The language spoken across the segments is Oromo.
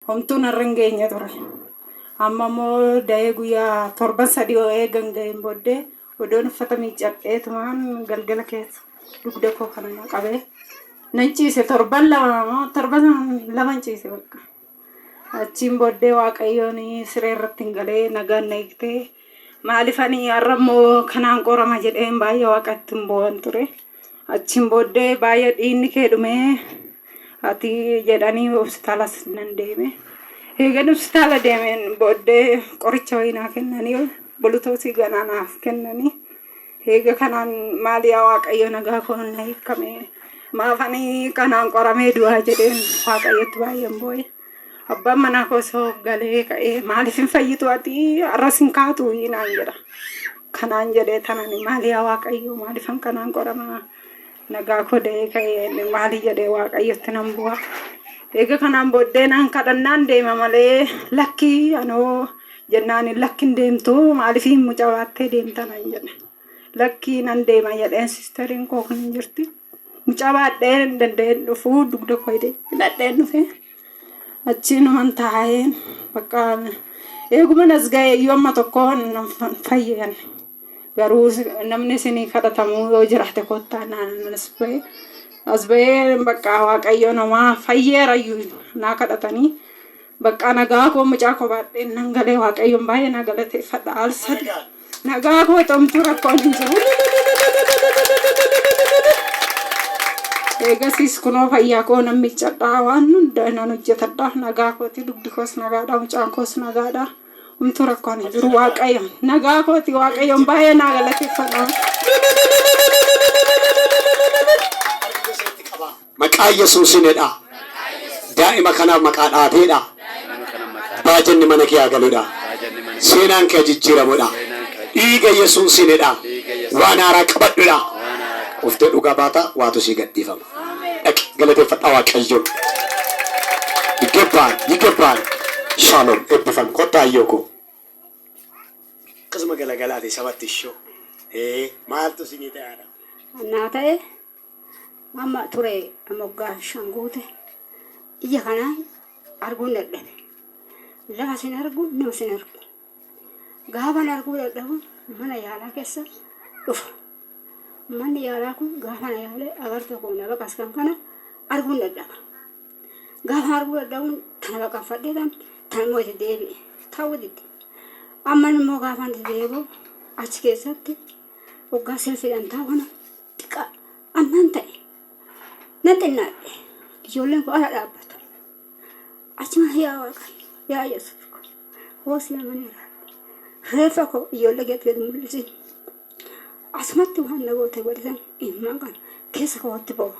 Homtuu narra hin geenye ture. Amma immoo da'ee guyyaa torban sadii oo eegan ga'een booddee odoon uffata miiccadhee tumaan galgala keessa dugda koo kana na qabee nan ciise torban lama moo torban lama hin ciise bakka. Achiin booddee waaqayyoon siree irratti hin galee nagaan na hiiktee maaliif ani har'a immoo kanaan qorama jedheen baay'ee waaqatti hin boo'an ture. Achiin booddee baay'ee dhiinni kee dhumee ati jedhanii hospitaalas nan deeme. Eegan hospitaala deemeen booddee qoricha wayii naa kennanii bulutoosii ganaa naaf kennanii. Eega kanaan maal yaa waaqayyo nagaa koo na hiikamee maafanii kanaan qoramee du'aa jedheen waaqayyotti baay'een booye. Abbaan manaa koo osoo galee ka'ee maaliif hin fayyitu ati har'as hin kaatu naan jedha. Kanaan jedhee tanani maali yaa waaqayyo maaliif an kanaan qorama nagaa koo da'ee ka'ee maali jedhee waaqayyotti nan bu'a. Eega kanaan booddee naan kadhannaan deema malee lakki anoo jennaan lakki hin deemtu maaliif hin mucaa baattee deemta naan jedhe. Lakkii nan deema jedheen sisteriin koo kan hin jirti. Mucaa baadhee hin danda'een dhufuu dugda koo hidhee hidhadheen dhufe. Achii numan taa'een bakka eeguman as ga'e iyyuu amma tokko nan fa- fayyan. Garuu si- namni isinii kadhatamuu yoo jiraate kottaa naan as ba'e. As ba'ee bakka waaqayyo namaa fayyeera iyyuu naa kadhatanii. Bakka nagaa koo mucaa koo baadheen nan galee waaqayyoon baay'ee naa galateeffadha. Al sadii. Nagaa koo xomtuu rakkoon hin jiru. Eegasiis kunoo fayyaa koo nan miiccadhaa waan hunda nan hojjetadha nagaa kooti dubbi koos nagaadha mucaan koos nagaadha humtuu rakkoon hin jiru waaqayyoon nagaa kooti waaqayyoon baay'ee naa galateeffadha. Maqaa yesuusin jedhaa. Daa'ima kanaaf maqaa dhaateedha. Baajanni mana kee haa galudha. Seenaan kee haa jijjiiramudha. Dhiiga yesuusin jedhaa. Waan haaraa qabadhudha. Dhuftee dhugaa baata waatu sii gadhiifama. Dhaqi galateeffadhaa waaqayyoon. Yigebbaal yigebbaal shaalom ebbifami kottaa ayyoo koo. Akkasuma galagalaati sabatti ishoo. Ee maaltu isinii ta'e haadha. Naa ta'e. Amma ture amma waggaa shan guute ija kanaan arguun dadhabe. Lafa sin argu nama sin argu. Gaafan arguu dadhabu mana yaalaa keessa dhufa. Manni yaalaa kun gaafa na yaalee agartuu koo na baqas kan kana arguun dadhaba. Gaafa arguu dadhabuun tana baqaffadhee tan tana immoo itti deebi'e ta'uu didde. Amma immoo gaafan itti deebi'u achi keessatti waggaa selfiidhaan taa'u kana xiqqaa annan ta'e nan xinnaadhe ijoolleen koo ala dhaabbatu achumaan yaa waaqayyo yaa yesuus koo hoo si amaneera reeffa koo ijoollee keetti gad mul'isi asumatti waan na goote godhisan immaan kana keessa kootti boo'a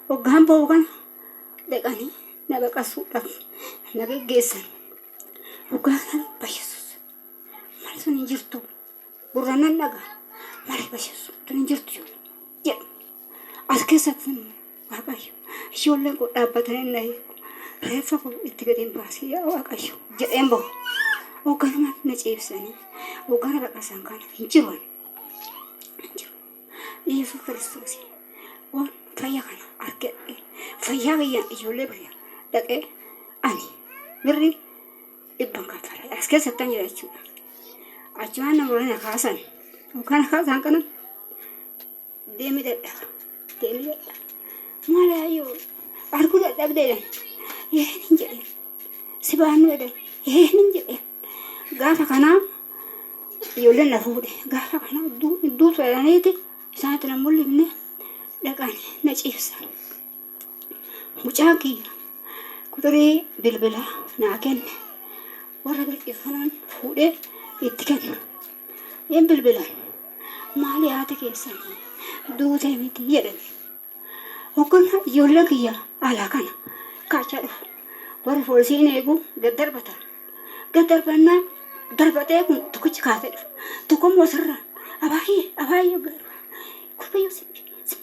hoggaan boo'u kana dhaqanii na baqasuudhaaf na geggeessan hoggaan sana bayyesuus mali sun hin jirtu. gurra nan dhaga malee bashassu tun hin jirtu jedhu jedhu as keessatti waaqayyo ijoolleen koo dhaabbatanii na eegu reeffa koo itti gadi hin baasii yaa waaqayyo jedheen bahu hoogganuma na ciibsanii hooggana baqasan kana hin jiru ani. hin jiru yesus kiristoos waan fayya kana argadhe fayyaa kiyya ijoollee biyya dhaqee ani birrii dhibban kaffale as keessa akkan jira jechuudha achumaan namoonni na kaasan yookaan na kaasaan kana deemi dadhaba deemi dadhaba maal ayyoo arguu dadhabdeedhan ee hin jedheen si baannu jedheen ee hin jedheen gaafa kanaa ijoolleen na fuudhe gaafa kana duutu jedhaniiti isaanitti na mul'ifne dhaqan na ciibsan. Mucaan kiyya quxurii bilbilaa naa kenne warra bilbilfanaan fuudhee itti kenna. Hin bilbilan maali haati keessan duutee miti jedhan. Hoggannaa ijoolleen kiyya alaa kana kaachaa dhufu. Warri poolisiin eegu gad darbata. Gad darbannaa darbatee kun tokkichi kaasee dhufa. Tokkommoo asirraa abaay'ee abaay'ee gaarii. Kurbayyoo si si-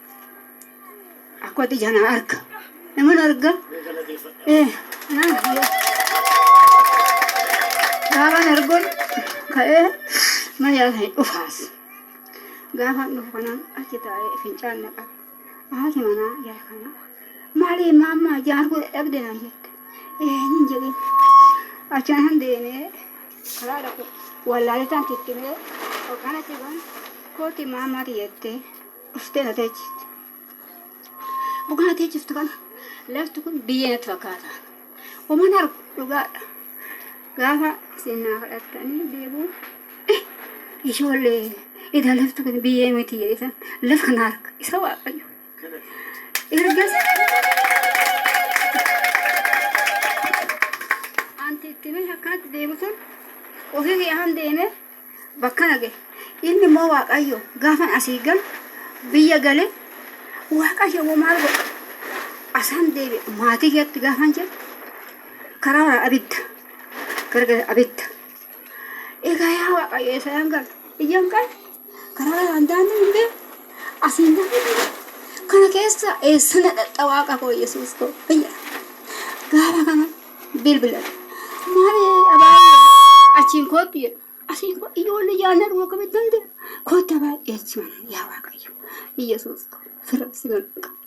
akkoti jana arka naman arga eh naan biyya gaafan argon ka'ee mana yaala hin dhufaas gaafan dhufu kanaan achi taa'ee fincaan na qabe haati manaa jara kana maalii maammaa jaan arguu dadhabde naan jette eh nin jedhin achaan han deemee karaa dhaqu wallaaletaan tittimee hoogganatti kun kooti maammaati jettee Dhuftee na teechifte. Dhugaa na teechiftu kana lafti kun biyyee natti fakkaata. Uuman argu dhugaadha. Gaafa isin naa kadhattanii deebi'u ijoollee edaa lafti kun biyyee miti jedhitan lafa kana arga isa waaqayyo. Ergas anti itti mee akkanatti deebisan ofii kiyaan deemee bakkana gahe. Inni immoo Waaqayyo gaafan asii galu biyya gale Waaqayyo immoo maal godhe? Asaan deebi'e maatii keetti gaafan jedhu karaa waraan abidda gargara abidda. Egaa yaa Waaqayyo eessaan galu? Iyyan qabe karaa waraan daandii hin beeku asiin daandii hin beeku. Kana keessa eessana dhaqxa waaqa koo Yesuus koo biyya gaafa kana Bilbila. Maali abaayee achiin koottu jedha. Asiin koo ijoollee yaadna dhuma akkamitti nan deema. Kootta baay'ee achi mana yaa waaqayyo. Iyyasuus koo firra si mana qabu.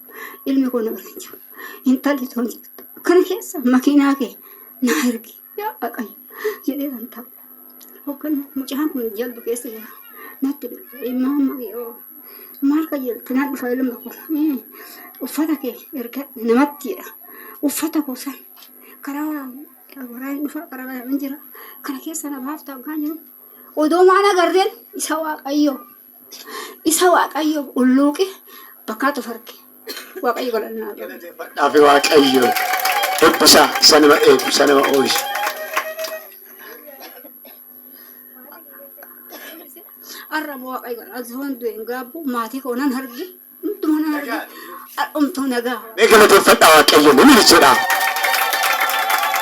Ilmi koo na bira hin jiru. Intalli too hin jirtu. Kana keessa makiinaa kee naa ergi. Yaa waaqayyo jedhee kan taa'u. Hogganni mucaan kun jaldu keessa jira. Natti bilbile maamma yoo maal qajeeltu nan dhufa ilma koo Eh, uffata kee erga namatti jedha uffata koo san karaa waraan dhufa karaa kana hin jira kana keessa na baafta hoggaan jedhu odoo maal agarreen isa waaqayyoo Isa Waaqayyoof ulluuqe bakkaatu farge. Waaqayyo galanna. Galateeffadhaafi Waaqayyo eebbisaa isa nama eegu isa nama oolchu. Arra immoo Waaqayyo galanna. Zoon du'een gaabbu maatii koo nan arge. Hundumtuu na arga. Dhumtuu nagaa. Mee galateeffadhaa Waaqayyoon himini jedhaa.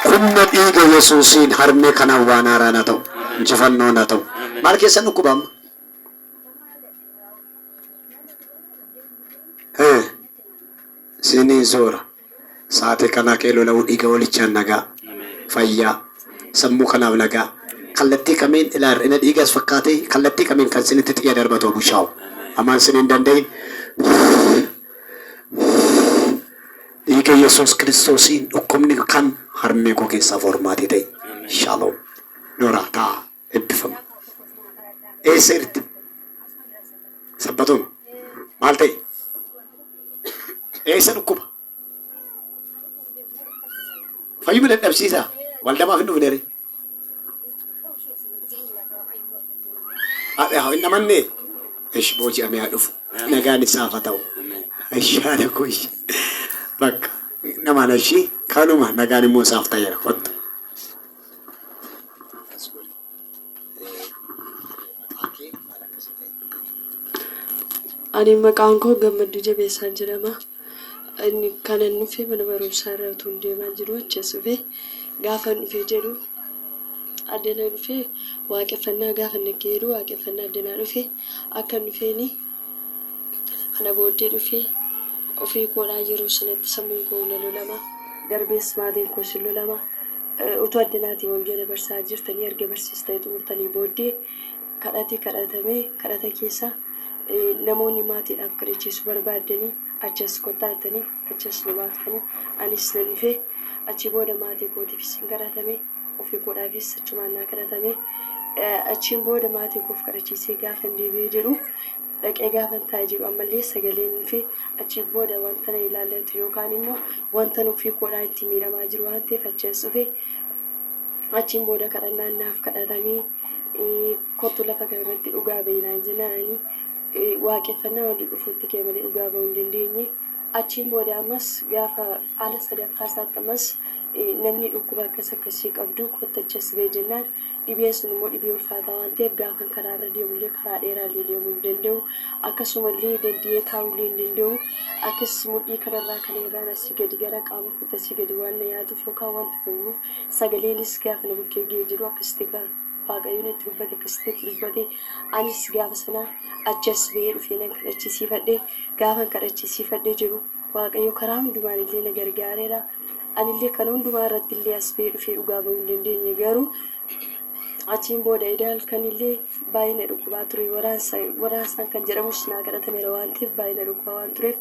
Humna dhiiga Yesuusiin harmee kanaaf waan haaraan haa ta'u. Injifannoon haa ta'u. Maal keessan dhukkuba amma? Ee, siinii soora. Sa'aatii kanaa ka'ee lola'uu dhiiga Hoolichaan nagaa, fayyaa, sammuu kanaaf nagaa, kallattii kamiin ilaa hir'ina dhiigaas fakkaatee kallattii kamiin kan sinitti xiyya darbatu haa bushaa'u. Amaan sin hin danda'iin. Dhiiga Yesuus Kiristoosiin dhukkubni kam harmee koo keessaa foormaatii ta'i. Shalom. Noraa ta'aa. ebbifama eessa irti sabbatoma maal ta'e eessa dhukkuba fayyuma dadhabsiisaa waldamaaf hin dhufne ree Haadha hin amanne ishi booji'amee haa dhufu nagaan isaaf haa ta'u ishi haadha koo ishi bakka namaan ishi kanuma nagaan immoo isaaf ta'eera kottu Akkas godhi. Maqaan kee maal akka si ta'e? Ani maqaan koo Gammadduu Jabeessaa jedhama. Inni kanan dhufe mana barumsaa irra utuun deemaa jiru achas dhufe. Gaafan dhufe jedhu addana dhufe waaqeffannaa gaafa nagge jedhu waaqeffannaa addanaa dhufe akka dhufeeni kana booddee dhufe ofii koodhaa yeroo sanatti sammuun koo na lolama darbees maatiin koos hin lolama. Utuu addanaatii wangeela barsaa jirtanii erga barsiistanii xumurtanii booddee kadhati kadhatamee kadhata keessa namoonni maatiidhaaf kadhachiisu barbaaddanii achi as kottaa jettanii achi as nu baaftanii anis nan dhufe achi booda maatii kootiifis hin kadhatame ofii koodhaafis achumaan naa kadhatame achiin booda maatii koof kadhachiisee gaafa hin deebi'ee jedhu dhaqee gaafan taa'e jedhu ammallee sagaleen fi achii booda wanta na ilaallatu yookaan immoo wanta nuffii koodhaa itti miidhamaa jiru waan ta'eef achi as dhufe achiin booda kadhannaan naaf kadhatamee kottu lafa kana irratti dhugaa ba'i naan jennaan ani waaqeffannaa wanta dhufuutti kee malee dhugaa ba'uu hin dandeenye achiin booda ammas gaafa ala sadaffaa isaatti ammas namni dhukkuba akkas akkasii qabdu kottachas ba'e jennaan Dhibeen sun immoo dhibee ulfaataa waan ta'eef gaafan karaa irra deemu illee karaa dheeraa illee deemuu hin danda'u. Akkasuma illee danda'ee taa'uu illee hin danda'u. Akkas mudhii kanarraa kan irraan asii gadi gara qaama kootti asii gadi waan na yaatuuf yookaan wanta gahuuf sagaleenis gaafa na bukkee ga'ee jedhu akkasitti gaafa waaqayyo natti dubbate akkasitti natti dubbate anis gaafa sana achi as ba'ee dhufee nan kadhachiisiifadhe gaafan kadhachiisiifadhe jedhu Waaqayyo karaa hundumaan illee na gargaareera. Ani illee kana hundumaa irratti illee as ba'ee dhufee dhugaa ba'uu hin dandeenye garuu achiin booda eda halkan illee baay'ee na dhukkubaa ture waraansaan kan jedhamus naa kadhatameera waan ta'eef baay'ee na dhukkubaa waan tureef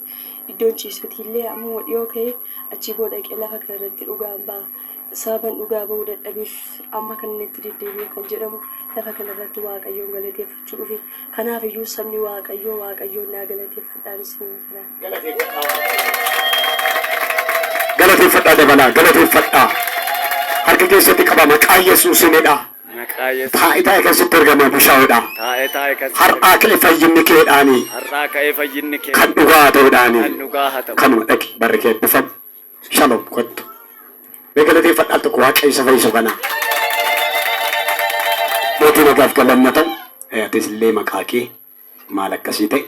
iddoon ciisuutii illee ammuma dhiyoo ka'ee achii booda dhaqee lafa kana irratti dhugaan ba'a. Sababan dhugaa ba'uu dadhabeef amma kan inni itti deddeebi'e kan jedhamu lafa kana irratti Waaqayyoon galateeffachuu dhufe. Kanaaf iyyuu sabni Waaqayyoo Waaqayyoon naa galateeffadhaan isiniin jedha. Galateeffadhaa dabalaa galateeffadhaa. Harka keessatti qaba maqaa Yesuusiin hidhaa. Maqaa Yesuus. Taa'itaa kee sitti ergamee bushaa'uudhaa. Taa'itaa eegas. Har'aa ka'e fayyinni keedhaanii Har'aa ka'ee fayyinni kee kan dhugaa haa ta'uudhaanii. kan dhugaa haa ta'u. Kanuma dhaqi barri kee eebbifamu. Shalom kottu. Mee galateeffadha al tokko Waaqayyo isa fayyisu kana. Mootii nagaaf galanna ta'u. Eh, Atis illee maqaa kee maal akkasii ta'e?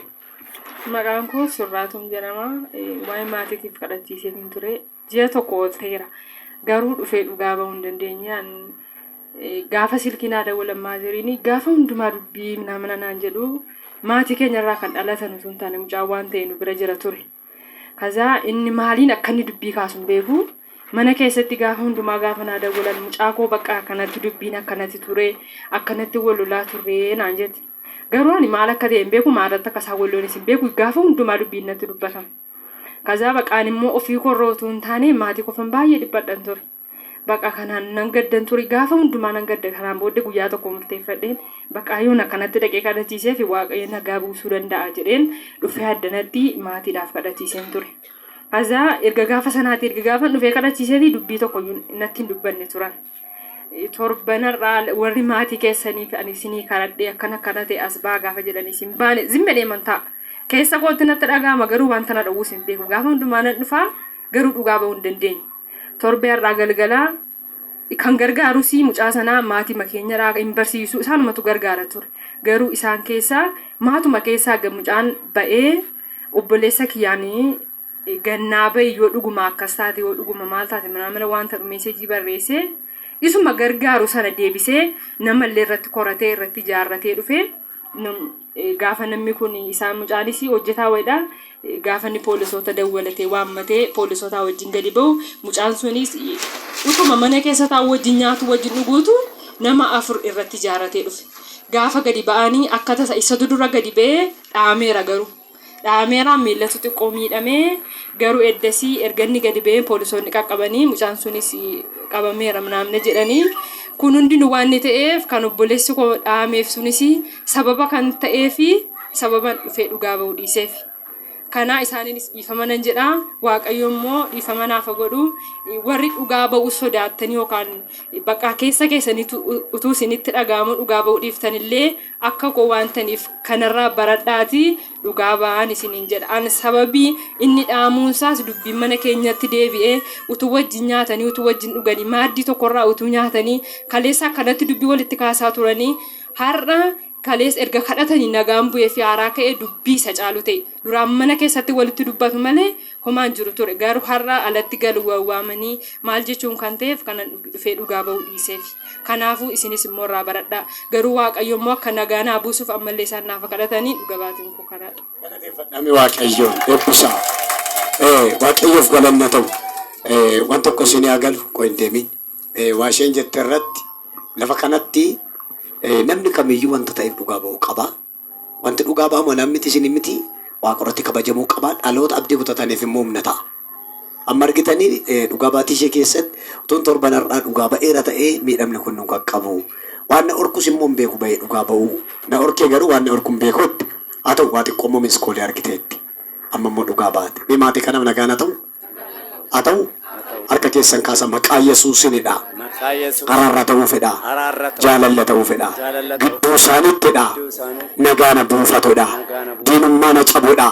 Maqaan koo Surraatum jedhama. Eh, Waa'ee maatiitiif kadhachiisee hin ture. Ji'a tokko ol ta'eera. Garuu dhufee dhugaa ba'uu hin dandeenye. An, eh, Gaafa silkii naa dawwalan maaziriin gaafa hundumaa dubbii minaa mana naan jedhu maatii keenyarraa kan dhalatan osoo hin taane mucaa waan ta'e nu bira jira ture. Kazaa inni maaliin akka inni dubbii kaasu hin beeku. Mana keessatti gaafa hundumaa gaafa naa dawwalan mucaa koo bakka akkanatti dubbiin akkanatti ture akkanatti wal lolaa turre naan jette. Garuu ani maal akka ta'e hin beeku maalirratti akka isaan wal lolanis hin beeku gaafa hundumaa dubbiin natti dubbatama. Kazaa baqaan immoo ofii korra utuu hin taane maatii kofan baay'ee dhiphadhan ture. Baqa kanaan nan gaddan ture gaafa hundumaa nan gadda kanaan booddee guyyaa tokko murteeffadheen baqaa yoon akkanatti dhaqee kadhachiisee fi waaqayyo nagaa buusuu danda'a jedheen dhufee addanatti maatiidhaaf kadhachiiseen ture. Azaa erga gaafa sanaati erga gaafa dhufee kadhachiisee fi dubbii tokko natti hin dubbanne turan. Torbanarraa warri maatii keessanii fi ani isinii kadhadhee akkana akkana ta'e as baa gaafa jedhanii isin baane zimma deeman ta'a. Keessa kootti natti dhaga'ama garuu wanta na dhowwus hin beeku gaafa hundumaa nan dhufaa. garuu dhugaa ba'uu hin dandeenye. Torbee har'aa galgalaa kan gargaarus mucaa sanaa maatima keenyarraa hin barsiisu isaanumatu gargaara ture. Garuu isaan keessaa maatuma keessaa ga- mucaan ba'ee obboleessa kiyyaan gannaa ba'i yoo dhuguma akkas taate yoo dhuguma maal taate manaamala wanta dhumeesseejii barreessee isuma gargaaru sana deebisee namallee irratti koratee irratti ijaarratee dhufee Gaafa namni kun isaan mucaanis hojjetaa wayiidha. Gaafa inni poolisoota dawwalatee waammatee poolisootaa wajjin gadi ba'u mucaan sunis utuma mana keessa taa'u wajjin nyaatu wajjin dhuguutu nama afur irratti ijaaratee dhufe. Gaafa gadi ba'anii akka tasa isatu dura gadi ba'ee dhaameera garuu. dha'ameera. Miillatu xiqqoo miidhame. Garuu eddasii erga inni gadi ba'ee poolisoonni qaqqabanii mucaan sunis qabameera naamne jedhanii. Kun hundinuu waan inni ta'eef kan obboleessi koo dha'ameef sunis sababa kan ta'ee fi sababan dhufee dhugaa ba'uu dhiiseef. Kanaa isaaniinis dhiifama nan jedha. Waaqayyo immoo dhiifama naaf haa godhu. Warri dhugaa ba'uu sodaattanii yookaan bakka keessa keessaniitu utuu isinitti dhaga'amu dhugaa ba'uu dhiiftanillee akka koo waan taniif kanarraa baradhaatii dhugaa ba'aan isiniin jedha an sababii inni dhaamuunsaas dubbiin mana keenyatti deebi'ee utuu wajjin nyaatanii utuu wajjin dhuganii maaddii tokkorraa utuu nyaatanii kaleessa akkanatti dubbii walitti kaasaa turanii har'a kalees erga kadhatanii nagaan bu'ee fi haaraa ka'ee dubbii isa caalu ta'e. Duraan mana keessatti walitti dubbatu malee homaa hin jiru ture. Garuu har'a alatti galu wawwaamanii maal jechuun kan ta'eef kanan dhufee dhugaa ba'uu dhiiseef. Kanaafuu isinis immoo irraa baradhaa. Garuu Waaqayyo immoo akka nagaa naa buusuuf ammallee isaan naaf kadhatanii dhuga baatiin koo kanaadha. Galateeffadhaame Waaqayyoon eebbisaa. Eh, Waaqayyoof galanni haa ta'u. Eh, Waan tokko isinii haa galu qoy hin deemin. Eh, Waa isheen jette irratti lafa kanatti eh, namni kamiyyuu wanta ta'eef dhugaa ba'uu qaba. Wanti dhugaa ba'amu anaan miti isiniin miti, Waaqa irratti kabajamuu qaba, dhaloota abdii kutataniif immoo humna ta'a. Amma argitanii Dhugaa Baatii ishee keessatti utuun torban har'aa dhugaa ba'eera ta'ee miidhamni kun nu qaqqabu. Waan na dhorkus immoo hin beeku ba'ee dhugaa ba'uu. Na dhorkee garuu waan na dhorku hin beeku jette. Haa ta'u waa xiqqoo immoo miss call argiteetti. Amma immoo dhugaa baate. Mee maatii kanaaf nagaan haa ta'u? Haa ta'u? Harka keessan kaasaa maqaa Yesuusinidha. Araarra ta'uu fedha. Jaalalla ta'uu fedha. Gidduu isaaniittidha. Nagaa na buufatudha. Diinummaa na cabudha.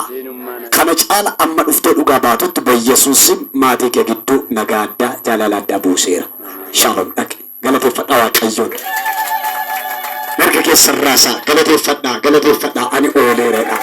Kana caala amma dhuftee dhugaa baatutti bayesuussim maatii kee gidduu nagaa addaa, jaalala addaa buuseera. Shaalom dhaqi. Galateeffadhaa Waaqayyoon. Mirga keessan raasaa. Galateeffadhaa, galateeffadhaa. Ani ooleera jedhaa.